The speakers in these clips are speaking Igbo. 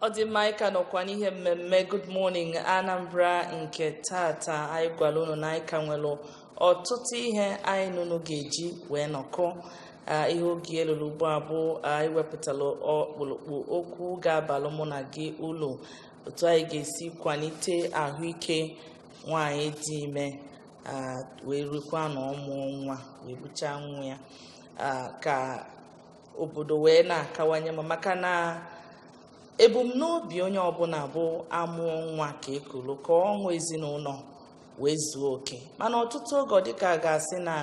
ọ dị mma ị ka nọkwa n'ihe mmemme Good Morning Anambra nke taata anyị gwara unu na anyị ka nwere ọtụtụ ihe anyị na unu ga-eji wee nọkọ Ah, ihe oge eluru ugbu a bụ ah, anyị wepụtara ọkpụrụkpụ okwu ga-abalụ mụ na gị ulu otu anyị ga-esi kwalite ahụike nwaanyị dị ime wee rukwa na ọmụ nwa wee buchaa nwa ya ka obodo wee na-akawanye mma maka na ebumnobi onye ọbụla bụ amụọ nwa ka ekuru ka ọṅụ ezinụlọ wee zuo oke mana ọtụtụ oge dịka a ga-asị na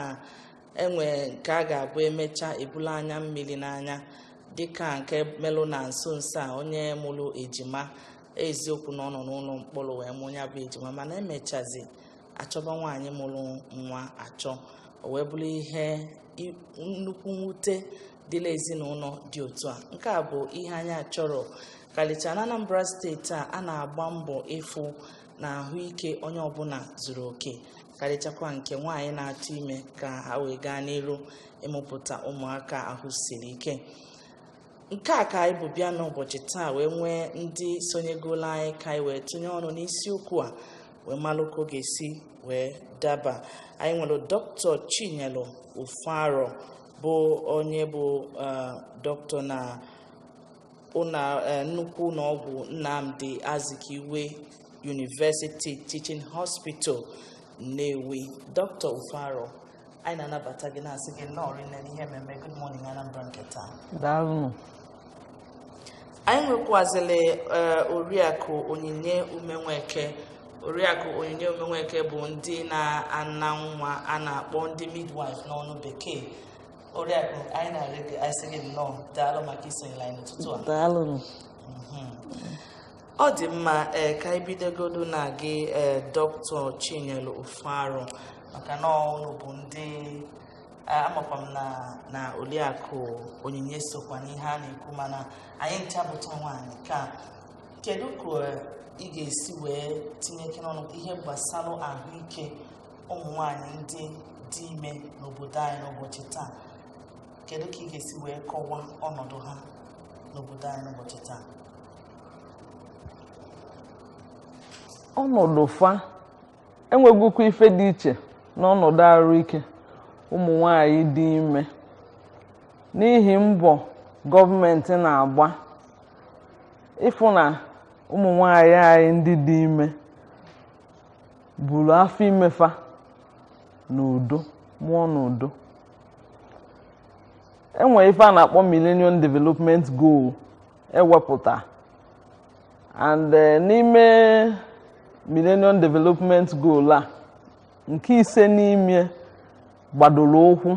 enwe nke a ga-abụ emecha ebulu anya mmiri n'anya dịka nke melụ na nso nso a onye mụrụ ejima eziokwu na ọ nọ n'ụlọ mkpọrọ wee mụọ ya bụ ejima mana emechazi achọba nwaanyị mụrụ nwa achọ o wee bụrụ ihe i- nnukwu mwute dịlị ezinụlọ dị otu a nke a bụ ihe anyị achọrọ karịchaa na anambra steeti a a na-agba mbọ ịfụ na ahụike onye ọbụla zuru oke karịchakwa nke nwaanyị na-atụ ime ka ha wee gaa n'iru ịmụpụta ụmụaka ahụ siri ike nke a ka anyị bu bịa n'ụbọchị taa wee nwee ndị sonyegolu anyị ka anyị wee tụnye ọnụ n'isiokwu a wee malụ ka ọ ga-esi wee daba anyị nwere dọkịta chinyelu ufoaroh bụ onye bụ eh, dọkịta na ụnọ eh, nnukwu ụlọọgwụ nnamdi azikiwe University Teaching Hospital Nnewi Dr. Ufoaroh anyị na-anabata gị na-asị gị nnọọ rinne n'ihe mmemme Good Morning Anambra nke taa daalụ anyị nwekwazịrị eh, oriakụ onyinye umenweke oriakụ onyinye umenweke bụ ndị na-ana nwa a na-akpọ ndị midwife n'ọnụ bekee oriakụ anyị na-asị gị asị gị nnọọ daalụ maka isonyere anyị n'ụtụtụ a daalụ ọ dị mma ee ka anyị bidogodu na gị ee dọkịta chinyelu ufoaroh maka na unu bụ ndị ee, amakwa m na na oliakụ onyinye sokwa n'ihe a na-ekwu mana anyị ncha bụcha nwaanyị ka kedu ka ee, ị ga-esi wee tinyekene ọnụ n'ihe gbasara ahụike ụmụ nwaanyị ndị dị ime n'obodo anyị n'ụbọchị taa kedu ka ị ga-esi wee kọwaa ọnọdụ ha n'obodo anyị n'ụbọchị taa ọnọdụ fa enwegokwa ife dị iche n'ọnọdụ arụ ike ụmụ nwanyị dị ime n'ihi mbọ gọọmenti na-agba ịfụ na ụmụ nwanyị anyị ndị dị ime buru afọ imefa n'udo mụọ n'udo enwere ife a na-akpọ Millennium Development Goal ewepụta and eh, n'ime millennium development goal a nke ise n'ime gbadoro ụkwụ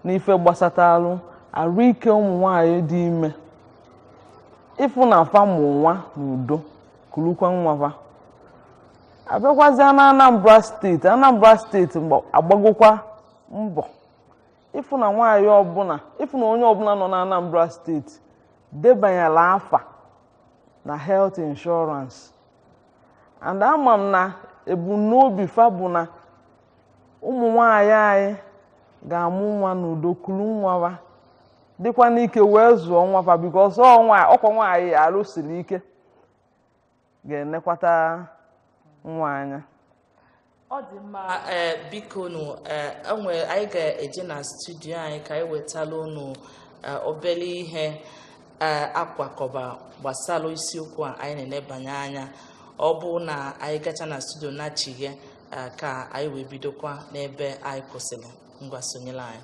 n'ife gbasatalụ arụike ụmụ nwanyị dị ime ịfụ na fa mụ nwa n'udo kulukwa nwafa abịakwazịa na anambra steeti anambra steeti agbagokwa mbọ ịfụ na nwaanyị ọbụla ịfụ na onye ọbụla nọ na Anambra steeti debanyela afa na health insurance and ama m na ebumnobi fa bụ na ụmụ nwaanyị anyị ga-amụ nwa n'udo kulu nwafa dịkwa n'ike wee zụọ nwa fa because ọkwa nwaanyị arụ siri ike ga-enekwata nwa anya ọ dị mma ee eh, biko nụ eh, anyị ga-eje na studio anyị ka anyị wetala unu eh, obere ihe akwakọba gbasara isiokwu a anyị na-enebanye anya ọ bụrụ na anyị gacha na studio nachigha ka anyị wee bidokwa n'ebe anyị kwụsịrị ngwa sonyelụ anyị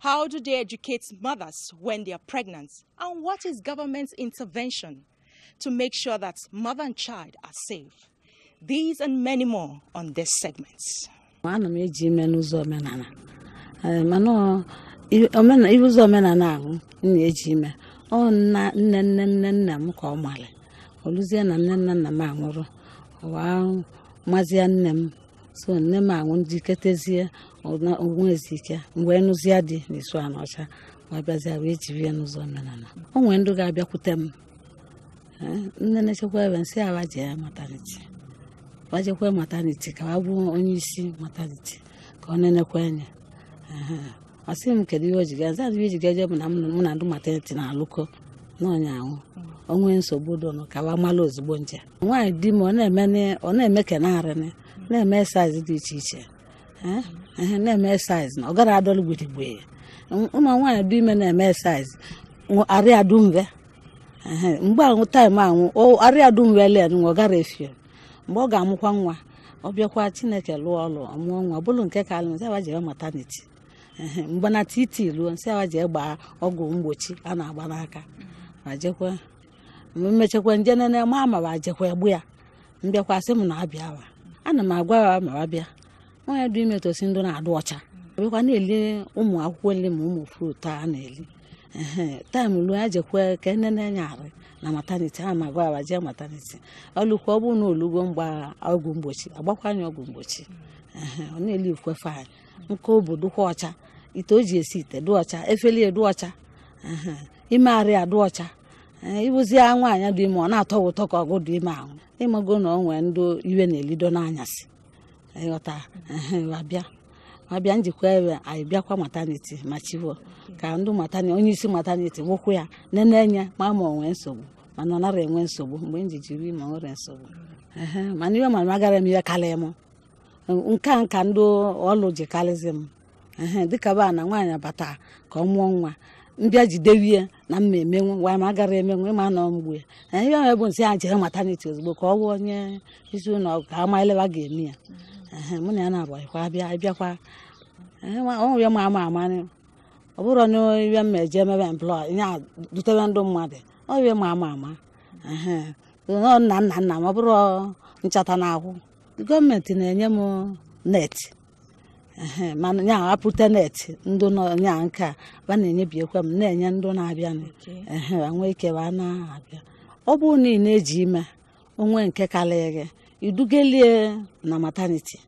How do they educate mothers when they are pregnant? And what is government's intervention to make sure that mother and child are safe? These and many more on this segment. ana m eji ime n'ụzọ omenala Ee, mana ọ- i- omena- ihe ụzọ omenala ahụ m na-eji ime ọ nna nne nne nne nna m ka ọ mara o luzie na nne nna nna m anwụrụ wee mazie nne m so nne m anwụ njiketezie onwe ezi ike mgbe nụzia di n'Isuaniocha wee bịazia wee jiri ya n'ụzọ omenala o nwere ndị ga-abịakwute m eh, nne na-echekwa ebe m sị wa jee mataniti wa jekwa mataniti ka wa bụ onye isi mataniti ka ọ nenekwa anya ọ sị m kedu ihe o ji gaza ihe ji gaje bụ na mụ na ndị mataniti na-alụkọ na onye ahụ o nwee nsogbu dụnụ ka wa mala ozugbo nje nwaanyị dị ime ọ na-eme ka na-arịnị na-eme exercise dị iche iche na-eme exercise na ọ gara adọlụ gburugburu ya ụmụ nwaanyị dị ime na-eme exercise arịa dumve mgbe ahụ taịm ahụ arịa dumve len ọ gara efio mgbe ọ ga-amụkwa nwa ọ bịakwa chineke lụọ ọlụ ọ mụọ nwa ọ bụrụ nke ka alụ n sị wa jee maternity mgbe na TT ruo n sị wa jee gbaa ọgwụ mgbochi a na-agba n'aka ma jekwa m mechekwa n jee nene ma ma wa jekwa egbu ya m bịakwa sị m na-abịa wa ana m agwa ya ma wa bịa nwaanyị dị ime tosi ịdụ na-adụ ọcha bịakwa na-eli ụmụ akwụkwọ nri ma ụmụ fruit a na-eli time ruo ya jekwe ka e nene ya arụ na maternity a m agwa ya jee maternity o lukwa ọ bụrụ na o lugo mgba ọgwụ mgbochi a gbakwaa nya ọgwụ mgbochi ọ na-eli ukwefe anyị nke obodo kwa ọcha ite o ji esi ite dụ ọcha efele e dụ ọcha ime arụ ya dụ ọcha ị bụzi ya nwaanyị dị ime ọ na-atọ ụtọ ka ọgụ dị ime ahụ ị mago na ọ nwee ndị iwe na-elido n'anyasị ị ghọta wa bịa wa bịa n jikwa ebe anyị bịakwa maternity ma chiwo ka ndị matani onye isi maternity wụkwụ ya nene nya ma ma o nwe nsogbu mana ọ nara enwe nsogbu mgbe m ji jiri ma nwere nsogbu mana ihe mara agara m ihe karịa m nke a nka ndị ọlụ ji karịzi m dịka ba na nwaanyị bata ka ọ mụọ nwa m bịa jidewe ya na m ma emenwu ngwa ma agara emenwu ị ma nọ mgbe ya ihe ahụ bụ n sị ya jee maternity ozugbo ka ọ bụ onye isi ụlọ ka ama ele ba ga-eme ya mụ na ya na-abụghịkwa abịa abịakwa ọnwụ ya ma ama ama ọ bụrụ na ihe m eje emebe mplọ ya dutebe ndụ mmadụ ọ ihe ma ama ama nna nna nna m ọ bụrụ nchata na akwụ government na-enye m net ehe mana ya apụta net ndị nọ ya nke a ba na-enyebiekwa m na-enye ndị na-abịa nụ. Okay. ehe wa nwee ike wa na-abịa ọ bụrụ na ị na-eji ime o nwe nke karịrị gị i dugelie na maternity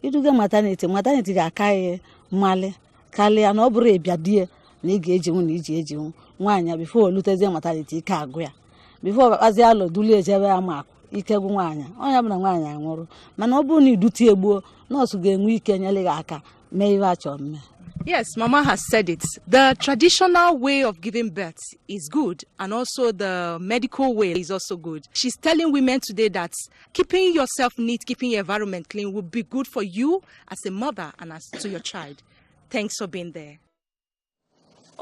i duga maternity maternity ga-aka gị mmalị karịa na ọ bụrụ ị bịa die na ị ga-ejinwu na i ji ejinwu nwaanyị before o lutezie maternity ike agwụ ya before ọ kpakpazi alụ dulie jebe ya maka ike gwụ nwaanyị ọ ya-abụ na nwaanyị anwụrụ mana ọ bụrụ na i dute egbuo nurse ga-enwe ike nyere gị aka mee ihe a chọ mme Yes, Mama has said it. The traditional way of giving birth is good, and also the medical way is also good. She's telling women today that keeping yourself neat, keeping your environment clean will be good for you as a mother and as to your child. Thanks for being there.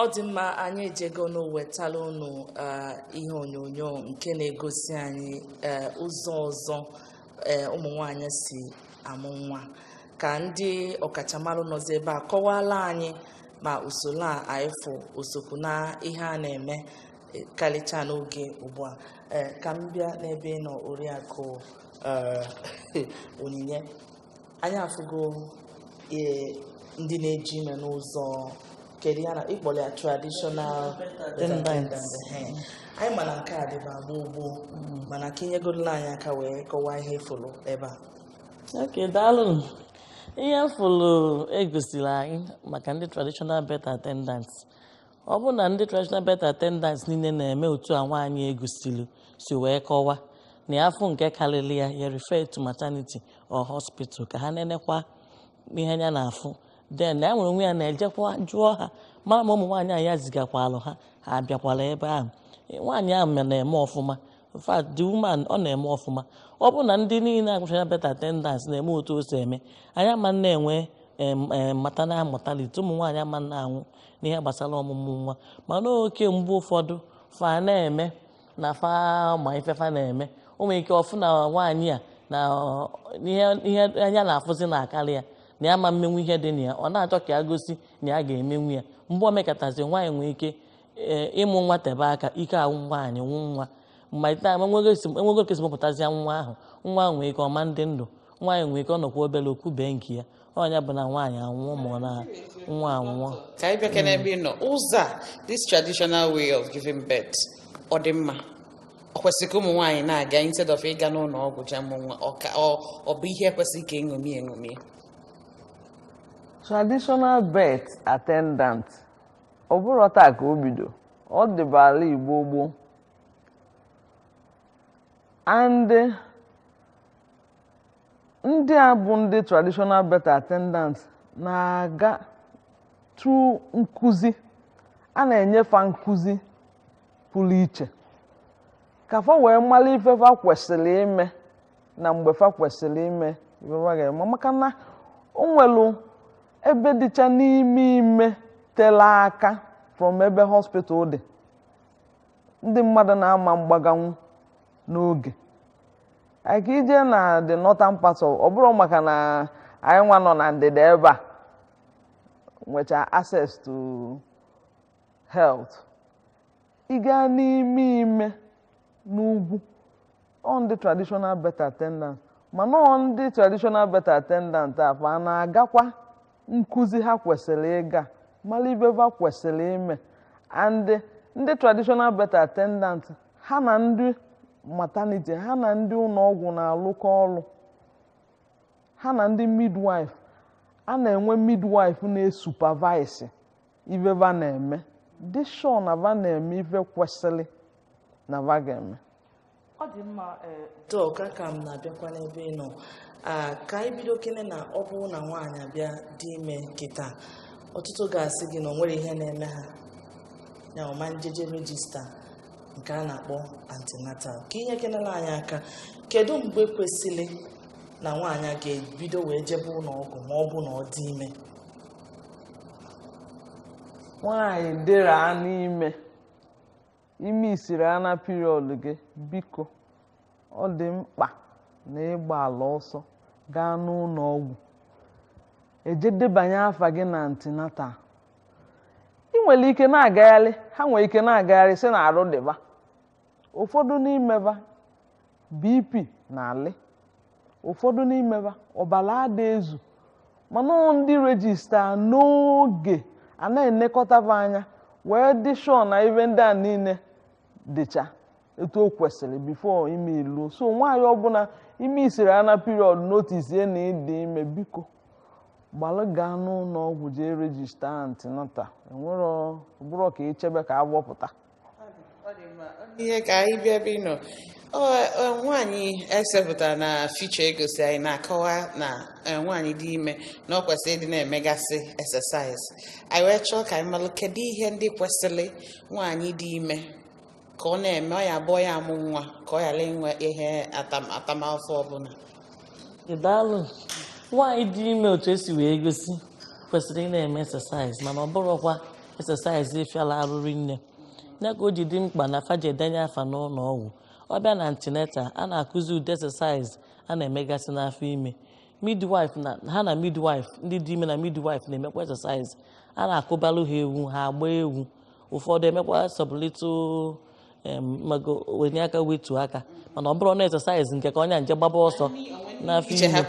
ọ dị mma anyị ejego nụ wetala unu eh, ihe onyonyo nke na-egosi anyị eh, ụzọ ọzọ eh, ụmụ nwaanyị si amụ nwa ka ndị ọkachamara nọzi ebe a kọwala anyị ma usoro a anyị fụ o sokwu na ihe a na-eme eh, karịcha n'oge ugbu a Eh, ka m bịa n'ebe ị nọ Oriakụ eh, Onyinye anyị afụgo ee ndị na-eji ime n'ụzọ kedu ya na ị kpọrọ ya traditional attendants. Ehe. anyị ma na nke a dịba gboo gboo mana ka i nyegodolu anyị aka wee kọwaa ihe ị fụrụ ebe a ok daalụ ihe fụlụ e gosiri anyị maka ndị traditional birth attendants ọ bụ na ndị traditional birth attendants niile na-eme otu a nwaanyị e gosiri si wee kọwa na ya afụ nke karịrị ya ya refer to maternity or hospital ka ha nenekwa ihe anya na-afụ then na ya nwere onwe ya na-ejekwa jụọ ha mara ma ụmụ nwaanyị a ya zigakwalụ ha ha abịakwala ebe ahụ nwaanyị ahụ na-eme ọfụma in fact the woman ọ na-eme ọfụma ọ bụ na ndị niile agụchara birth attendants na-eme otu o si eme anyị ama na-enwe maternal mortality ụmụ nwaanyị ama na-anwụ n'ihe gbasara ọmụmụ nwa mana oke mgbe ụfọdụ fa na-eme na fa ma ife fa na-eme o nwere ike ọ fụ na nwaanyị a na ihe anya na-afụzi na akarịa ya na ya ama mmenwu ihe dị na ya ọ na-achọ ka ya gosi na ya ga-emenwu ya mgbe o mekatazi nwaanyị nwee ike ee ịmụ nwa tebe aka ike agwụ nwaanyị gwụ nwa mmalite ama enwego esi- enwego ka e si mụpụtazịa nwa ahụ nwa ahụ nwee ike ọ ma dị ndụ nwaanyị nwee ike ọ nọkwa obere o kubie nke ya ọ nya bụ na nwaanyị anwụọ ma ọ na nwa anwụọ ka anyị bịakene ebe ị nọ Ụzọ a this traditional way of giving birth ọ dị mma ọ kwesịrị ka ụmụ nwaanyị na-aga instead of ịga n'ụlọ ọgwụ jee mụ nwa ọ ka- ọ- ọ bụ ihe kwesịrị ka e ṅomie eṅomi traditional birth attendant ọ bụrọ taa ka o bido ọ dịbala gboo gboo and ndị a bụ ndị traditional birth attendant na-aga through nkụzi a na-enye fa nkụzi pụrụ iche ka fa wee mara ife fa kwesịrị ime na mgbe fa kwesịrị ime ife fa ga-eme maka na o nwelu ebe dịcha n'ime ime tele aka from ebe hospital dị ndị mmadụ na-ama mgbaganwu n'oge ka i je na the northern part of ọ bụrọ maka na anyị nwa nọ na ndịda ebe a nwecha access to health ị gaa n'ime ime n'ugwu ọ ndị traditional birth attendant mana ọ ndị traditional birth attendant a fa na-agakwa nkụzi ha kwesịrị ịga mara ive va kwesịrị ime and ndị traditional birth attendant ha na ndị maternity ha na ndị ụlọ ọgwụ na-alụkọ ọrụ ha na ndị midwife a na-enwe midwife na-esupervise ife va na-eme dị sure na va na-eme ife kwesịrị na va ga-eme ọ dị mma ee doctor ka m na-abịakwa n'ebe ị nọ Ah, ka anyị bido kene na ọ bụrụ na nwaanyị bịa dị ime kịta ọtụtụ ga-asị gị na o nwero ihe na-eme ha ya ọ ma njeje register nke a na-akpọ antenatal ka i nyekenelụ anyị aka kedu mgbe kwesịrị na nwaanyị ga-ebido wee jebe ụlọ ọgwụ ma ọ bụ na ọ dị ime nwaanyị dịrị ana ime i missiri ana period gị biko ọ dị mkpa na ị gbalụ ọsọ gaa n'ụlọ ọgwụ eje debanye afa gị na antenatal ị nwere ike na-agagharị ha nwere ike na-agagharị sị na arụ dị ba ụfọdụ n'ime ba BP na-alị ụfọdụ n'ime ba ọbara ada ezu mana ọ ndị register n'oge a na-enekọta ba anya wee dị sure na ive ndị a niile dịcha etu o kwesịrị before ime eluo so nwaanyị ọbụla i missiri ana period notice na ị dị ime biko gbalụ gaa n'ụlọ ọgwụ jee register antenatal ọ bụrọ ka echebe ka avọ pụta ọ dị mma ihe ka anyị bịa ebe ị nọ Ọ- ọ, nwaanyị e sepụtara na feature egosi anyị na-akọwa na eh, nwaanyị dị ime na ọ kwesịrị ịdị na-emegasị exercise anyị wee chọọ ka anyị malụ kedu ihe ndị kwesịrị nwaanyị dị ime ka ọ na-eme ọ ya-abụ ọ ya-amụ nwa ka ọ ghara inwe ihe atam- atamafụfụ ọbụla daalụ nwaanyị dị ime otu e si wee gosi kwesịrị ị na-eme exercise mana ọ bụrọkwa exercise fịalụ arụ rinne ya ka o ji dị mkpa na fa jee denye afa n'ụlọ ọgwụ ọ bịa na antenatal a na-akụzi ụdị exercise a na-emegasị n'afọ ime midwife na ha na midwife ndị dị ime na midwife na-emekwa exercise a na-akụbalụ ha egwu ha agba egwu ụfọdụ emekwa sọbụlitụ wenie aka wetuo aka mana ọ bụrọ na exercise nke ka onye jee gbaba ọsọ n'afọ ime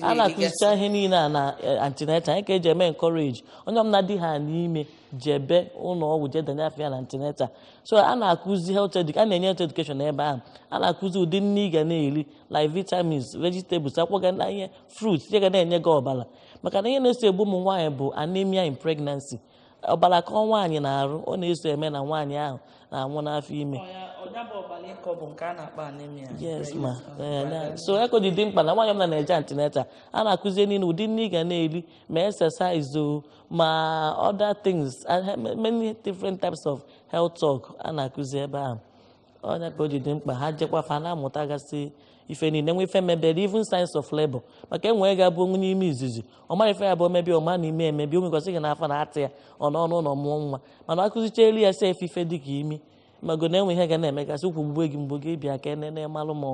a na-akụzicha ihe niile a na eh, antenatal ya ka e ji eme encourage onye ọbụla dịhana ime jebe ụlọ ọgwụ jee denye afa ya na antenatal so a na-akụzi a na-enye health education n'ebe ahụ a na-akụzi ụdị nni ị ga na-eri like vitamins vegetables akwụkwọ ga na ihe fruits ihe ga na-enye gị ọbara maka na ihe na-eso egbu ụmụ nwaanyị bụ anemia in pregnancy ọbara kọọ nwaanyị n'arụ ọ na-eso eme na nwaanyị ahụ na-anwụ n'afọ ime yes ma eh, so ya ka o ji dị mkpa na nwaanyị ọbụla na-eje antenatal a na-akụzi ihe niile ụdị nni ị ga na-eri ma exercise o ma other things many different types of health talk a na-akụzi ebe ahụ ọ nya ka o ji dị mkpa ha jekwa fa na-amụtagasị ife niile nwe ife mebere even signs of labor maka e nwee ga-abụ onye ime izizi ọ mara ife ya bụ omebi ọma na ime emebi onwekwasị gị n'afọ na-atị ya ọ nọ n'ụlọ mụọ nwa mana a kụzichaalụ ya sef ife dị ka imi mago na e nwee ihe ga na-emegasị ukwu gbube gị mgbu gị bịa ka e nene malụ ma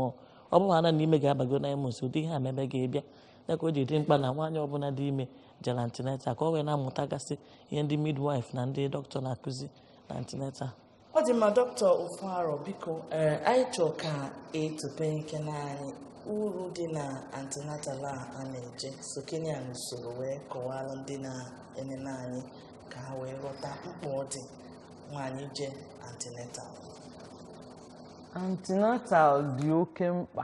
ọ bụ ha na n'ime ga-abago na emos ụdị ihe a mebe gị bịa ya ka o ji dị mkpa na nwaanyị ọbụla dị ime je antenatal ka ọ wee na-amụtagasị ihe ndị midwife na ndị dọkịta na-akụzi na antineta ọ dị mma dọkịta Ufoaroh biko ee anyị chọọ ka i tupekene anyị uru dị na antenatal a a na-eje sokene ya n'usoro wee kọwaara ndị na-enene anyị ka ha wee ghọta mkpa ọ dị nwaanyị je antenatal antenatal dị oke mkpa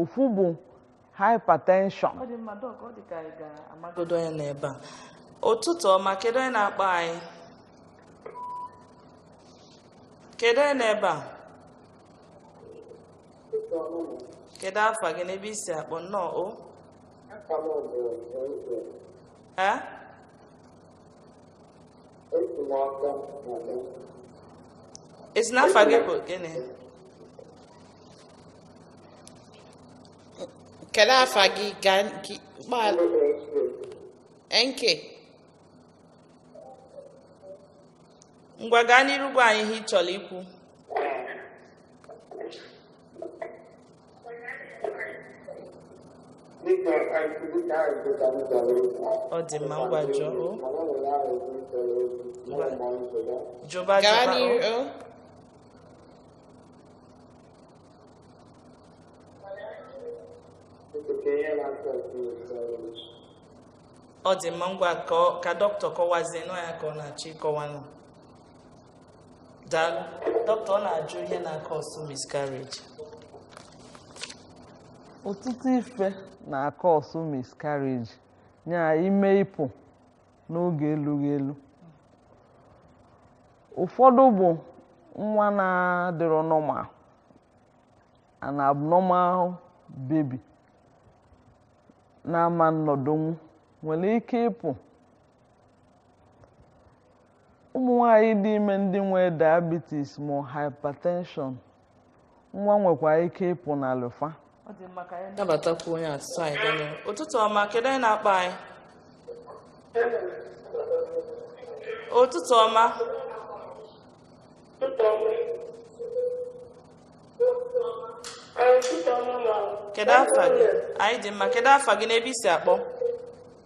ofu bụ hypertension ọ dị mma doc ọ dị ka anyị ga-amagodo onye nọ ebe a ụtụtụ ọma kedu onye na-akpọ anyị kedu onye nọ ebe a kedu afa gị na ebe i si akpọ nnọọ o ee Ị sị na afa gị bụ gịnị? Kedu afa gị ga gbaala? NK. Ngwa gaa n'iru gwa anyị ihe ị chọrọ ikwu. ọ dị mma ngwa jụọ o jụba Gaa jụba o n'ihu. o. ọ dị mma ngwa ka ọ- ka dọkịta kọwazienụ ya ka ọ na-achọ ịkọwanụ daalụ dọkịta ọ na-ajụ ihe na-acause miscarriage ọtụtụ ife na-acause miscarriage nya ime ịpụ n'oge elughị elu ụfọdụ bụ nwa na-adịrọ normal an abnormal baby na-ama nọdụnwu nwere ike ịpụ ụmụ nwanyị dị ime ndị nwee diabetes ma hypertension nwa nwekwa ike ịpụ n'arụ fa ọ dị mma ka anyị nabatakwu onye a tupu anyị gaa n'ihu. ụtụtụ ọma kedu onye na-akpọ anyị ụtụtụ ọma kedu afa gị anyị dị mma kedu afa gị na ebe i si akpọ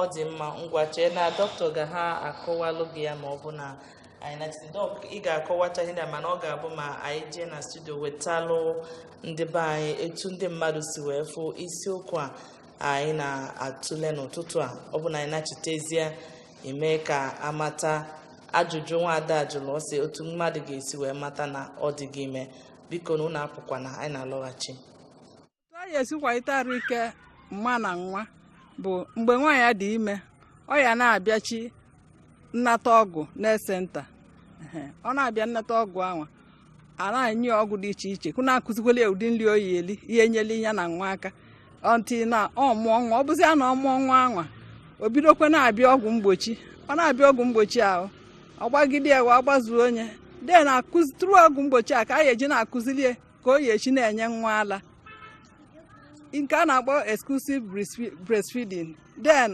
ọ dị mma ngwa chee na dọkịta ga-aka akọwalụ gị ya ma ọ bụ na anyị nachite dọk ị ga-akọwacha ihe ndị a mana ọ ga-abụ ma anyị jee na studio wetalụ ndị be anyị etu ndị mmadụ si wee fụ isiokwu a anyị na-atụle n'ụtụtụ a ọ bụ na anyị nachitezie i mee ka a mata ajụjụ nwaada a jụlụ ọ sị otu mmadụ ga-esi wee mata na ọ dịgo ime bikonụ ụnụ apụkwana anyị na-alọghachi otu a ya-esi kwalite arụ ike mma na nwa bụ mgbe nwaanyị ya dị ime ọ ya na-abịachi nnata ọgwụ na health center Ehe, ọ na-abịa nnata ọgwụ anwa a na-enye ya ọgwụ dị iche iche kụ na-akụzikwele ya ụdị nri ọ ya-eli ya-enyeli ya na nwa aka until na ọ mụọ nwa ọ bụzịa na ọ mụọ nwa anwa o bidokwe na-abịa ọgwụ mgbochi ọ na-abịa ọgwụ mgbochi ahụ ọ gbagide ya wee gbazuo onye de na-akụzi tụrụ ọgwụ mgbochi a ka a ya-eji na-akụziri ya ka ọ ya-esi na-enye nwa ala nke a na-akpọ exclusive breastfeeding then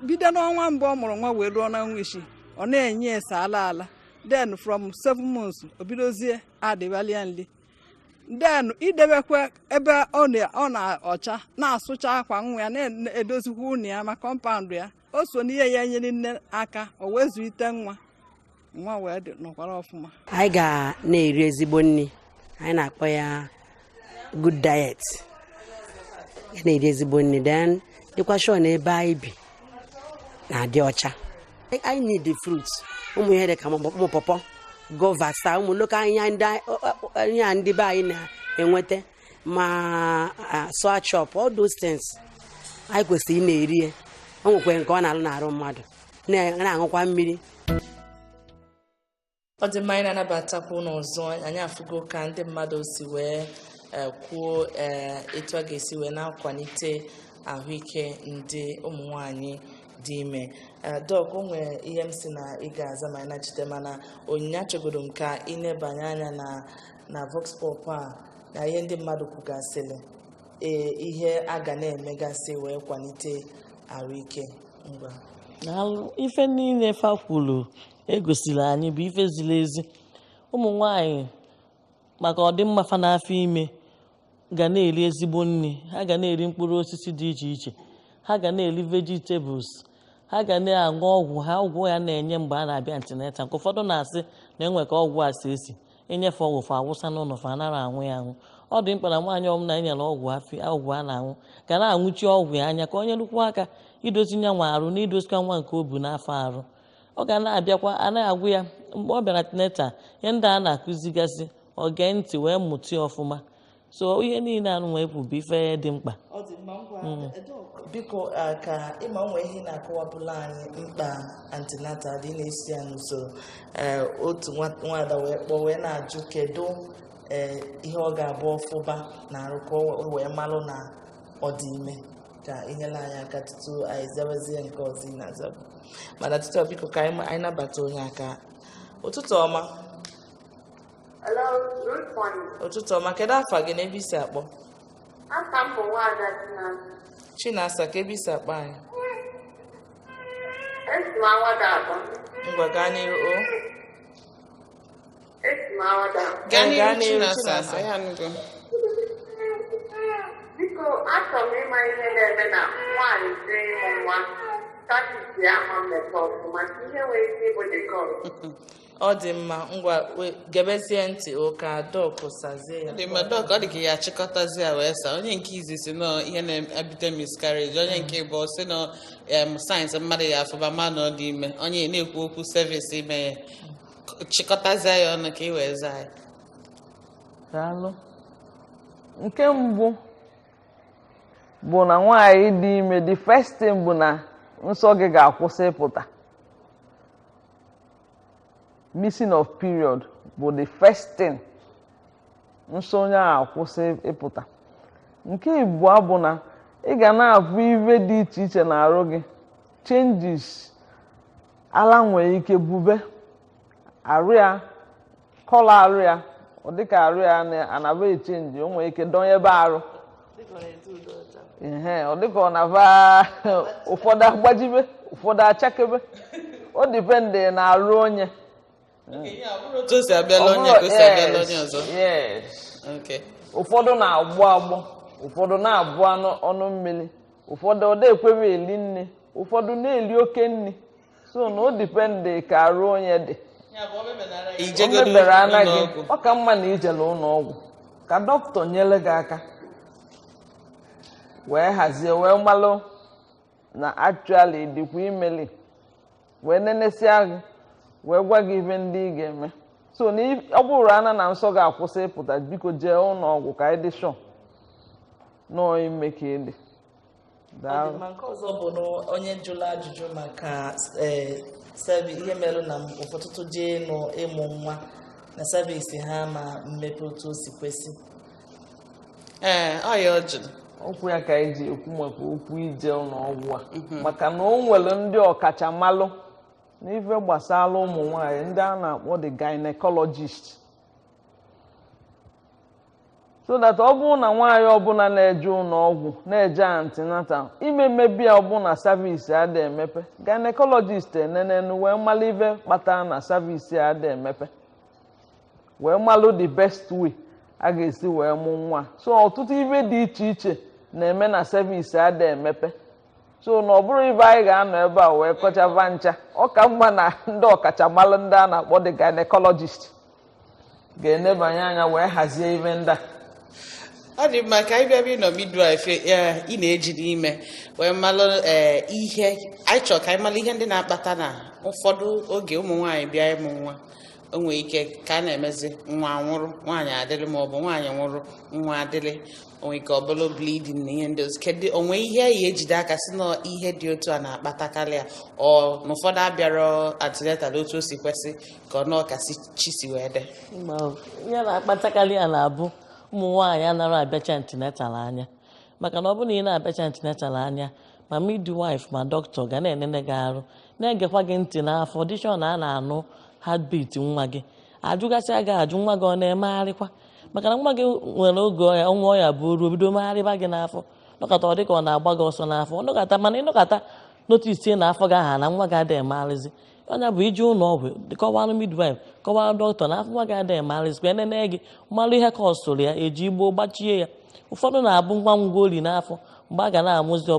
bido n'ọnwa mbụ ọ mụrụ nwa wee ruo n'ọnwa isii ọ na-enye ya sọ ala ala then from seven months o bidozie addịbalị ya nri then idebekwa ebe ọ nọ ọcha na-asụcha akwa nwa ya na-edozikwa ụnọ ya ma compound ya o so n'ihe ya-enyere nne aka o wee zụlite nwa nwa wee dị nọkwara ọfụma anyị ga na-eri ezigbo nri anyị na-akpọ ya good diet ga na-eri ezigbo nri then dịkwa sure na ebe anyị bi na-adị ọcha anyị need the fruit ụmụ ihe dị ka ụmụ pọpọ guava saa ụmụ local ihe ndị be anyị na-enweta ma ah, sour chop all those things anyị kwesịrị ị na-eri ya o nwekwe nke ọ na-alụ n'arụ mmadụ na- na-aṅụkwa mmiri ọ dị mma anyị na-anabatakwa ụnụ ọzọ anyị afụgo ka ndị mmadụ si wee eh, kwuo eh, etu a ga-esi wee na-akwalite ahụike ndị ụmụ nwanyị dị ime Eh, dọk o nwere ihe m sị na ị ga-aza ma anyị nachite mana onyinye achọgodu m ka ị nebanye anya na na Vox Pop a na ihe ndị mmadụ kwugasịrị ee ihe a ga na-emegasị wee kwalite ahụike ngwa Daalụ. ife niile fa kwuru e gosiri anyị bụ ife ziri ezi ụmụ nwanyị maka ọdịmma fa n'afọ ime ga na-eri ezigbo nri ha ga na-eri mkpụrụ osisi dị iche iche ha ga na-eri vegetables ha ga na-aṅụ ọgwụ ha ọgwụ a na-enye mgbe a na-abịa antenatal maka ụfọdụ na-asị na e nwe ka ọgwụ a si esi e nye fa ọgwụ fa awụsa n'ụnọ fa anara anwụ ya anwụ ọ dị mkpa na nwaanyị ọbụla e nyere ọgwụ afụ ọgwụ a na-anwụ ga na-anwụchi ọgwụ ya anya ka o nyelụkwu aka idozi nya nwa arụ na idozikwa nwa nke o bu n'afọ arụ ọ ga na-abịakwa a na-agwa ya mgbe ọ bịara antenatal ihe ndị a na-akụzigasị ọ gee ntị wee mụta ya ọfụma so ihe niile anụnwa bụ ife dị mkpa ọ dị mma ngwa mm. biko ka ị ma nwe ihe ị na-akọwapụlụ anyị mkpa antenatal dị na-esi ya n'usoro e, otu nwaada wee kpọọ wee na-ajụ kedu e, ihe ọ ga-abụ ọ fụba n'arụ ka o wee malụ na ọ dị ime ka i nyelụ anyị aka tutu anyị zawazie nke ọzọ ị na-azabu mana tutu ọ biko ka anyị anyị nabata onye aka ụtụtụ ọma Hello, good morning. ụtụtụ ọma kedu afa gị na ebe i si akpọ Afa m bụ nwaada Chinasa. Chinasa kee ebe i si akpọ anyị Esi m Awada akpọ. ngwa gaa n'iru o Esi m Awada. gaa n'ihu Gaa n'ihu Chinasa Chinasa. anyị anụgo Biko, achọrọ m ịma ihe na-eme na nwaanyị jee ịmụ nwa cervix ya ama mmepe ọfụma. Ihe nwere ike ịbụ dị ka ọrụ. ọ dị mma ngwa we- gebezie ntị ka dọk sazie ya dị mma dọk ọ dị ka ị ya-achịkọtazi ya wee saa onye nke izizi sị na ihe na-ebute miscarriage onye nke ịbụa sị na em signs mmadụ ya-afụba ma na ọ dị ime onye na-ekwu okwu cervix imeye chịkọtazie ya ọnụ ka ị wee zaa ya daalụ nke mbụ bụ na nwaanyị dị ime the first thing bụ na nsọ gị ga-akwụsị ịpụta missing of period bụ the first thing nsọ onye ahụ akwụsị ịpụta nke ịbụa bụ na ị ga na-afụ ife dị iche iche n'arụ gị changes ala nwere ike bube arụ ya colour arụ ya ọ dịka arụ ya anaba echenji o nwere ike dọnyebe arụ ee ọ dịka ọ na-aba ụfọdụ agbajibe ụfọdụ achakebe ọ depend na arụ onye ụfọdụ na-agbọ agbọ ụfọdụ na-abụ ọnụ mmiri ụfọdụ ọ da-ekwe be eli nni ụfọdụ na-eli oke nni so na ọ depend ka arụ onye dị o mebere anaghị ọ ka mma na i jelụ ụnọ ọgwụ ka dọkịta nyere gị aka wee hazie wee malụ na actually ị dịkwa ime li wee nenesia gị wee gwa gị ife ndị ị ga-eme so na ị- ọ bụrụ ana na nsọ gị akwụsị ịpụta biko jee ụlọ ọgwụ ka anyị dị sure na ọ ime ka ị dị Ọ dị daalụ mma. nke ọzọ bụ na onye jụrụ ajụjụ maka eh, sevi ihe mere na ụfọ- ọtụtụ jee ịmụ nwa na cervix ha ama mmepe otu o si kwesị ee ọ ya ọ jụrụ okwu ya ka anyị ji ekwu maka okwu ije ụlọ ọgwụ a maka na o nwere ndị ọkachamalụ n'ife gbasara ụmụ nwanyị ndị a na-akpọ the gynecologist so that ọ bụrụ na nwaanyị ọbụla na-eje ụlọ ọgwụ na-eje antenatal ime mebe ya ọ bụ na cervix ada emepe gynecologist enenenu wee mara ife kpatara na cervix ada emepe wee malụ the best way a ga-esi wee mụ nwa so ọtụtụ ife dị iche iche na-eme na cervix ada emepe so na ọ bụrọ ife anyị ga-anọ ebe a wee kọchaba ncha ọ ka mma na ndị ọkachamara ndị a na-akpọ the gynecologist ga-enebanye anya wee hazie ife ndị a ọ dị mma ka anyị bịa ịnọ midwife ị na-eji n'ime wee malụ eh, ihe anyị chọrọ ka anyị malụ ihe ndị na-akpata na ụfọdụ oge ụmụ nwaanyị bịa ịmụ nwa o nwere ike ka a na-emezi nwa nwụrụ nwaanyị adịrị ma ọ bụ nwaanyị nwụrụ nwa adịrị o nwe ike ọ bụ na bleeding na ihe ndị ọzọ kedu o nwe ihe a ya-ejide aka sị na ihe dị otu a na-akpatakarị ya ọ na ụfọdụ abịara antenatal otu o si kwesị ka ọ na-ọkasị chi si wee dị ihe na-akpatakarị ya na-abụ ụmụ nwaanyị anara abịacha antenatal anya maka na ọ bụrụ na ị na-abịacha antenatal anya ma midwife ma dọkịta ga na-enene gị arụ na-egekwa gị ntị n'afọ dị sure na a na-anụ heartbeat nwa gị ajụgasịa gị ajụ nwa gị ọ na-emegharịkwa maka na nwa gị nwere oge ọ ya ọnwa ọ ya-abụrụ o bido megharịba gị n'afọ nọkata ọ dịka ọ na-agba gị ọsọ n'afọ ọ nọkata mana ị nọkata noticie na afọ gị aha na nwa gị adịghị emegharịzi ọ ya-abụ ị jee ụlọ ọgwụ kọwara midwife kọwara dọkịta na afọ nwa gị adịghị emegharịzi ka e nene gị mara ihe causụrụ ya e ji gboo gbachie ya ụfọdụ na-abụ nwa nwụọlị n'afọ mgbe a ga na-amụzi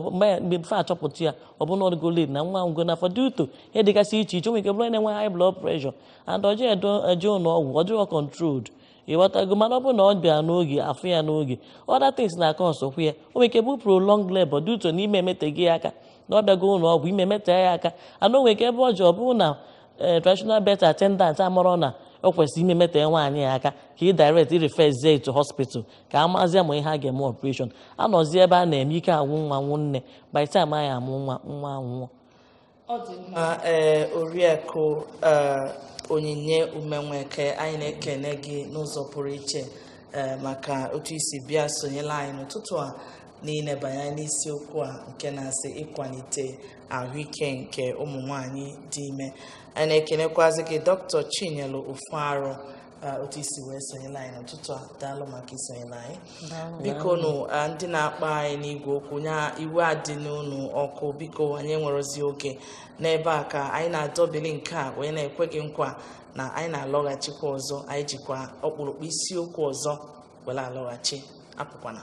before a chọpụta ya ọ bụ na ọ dịgo late na nwa nwụrụ n'afọ due to ihe dịgasị iche iche nwere ike bụrụ na-enwe high blood pressure and ọ dịrọ eje ụlọ ọgwụ ọ dịrọ controlled ịghọtago mana ọ bụrụ na ọ bịara n'oge a fụ ya n'oge other things na-acausekwu ya o nwere ike bụ prolonged labor due to na ime emetego ya aka na ọ bịago ụlọ ọgwụ ime metee ya aka and o nwe ike ebe o je ọ bụrụ na eh, traditional birth attendant amarọ na o kwesịrị ime metee nwaanyị ya aka ka ị direct ị referzie to hospital ka a mazie ma ihe a ga-eme operation anọzi ebe a na-eme ike agwụ nwa agwụ nne by time a ya-amụ nwa nwa anwụọ ọ dị mma ee eh, oriakụ eh, onyinye umenweke anyị na-ekene gị n'ụzọ pụrụ iche maka otu i si bịa sonyela anyị n'ụtụtụ a n'ilebanye n'isiokwu a nke na-asị ịkwalite ahụike nke ụmụ nwanyị dị ime anyị na-ekenekwazi gị dọkịta chinyelu ofuarụ otu i si wee sonyela anyị n'ụtụtụ a daalụ maka isonyela anyị biko nụ ndị na-akpọ anyị n'igwe okwu nya iwe adịna unu ọkụ biko anyị enwerozi oge n'ebe a ka anyị na-adọbili nke a wee na-ekwe gị nkwa na anyị na-alọghachikwa ọzọ anyị jikwa ọkpụrụkpụ isiokwu ọzọ were alọghachi apụkwana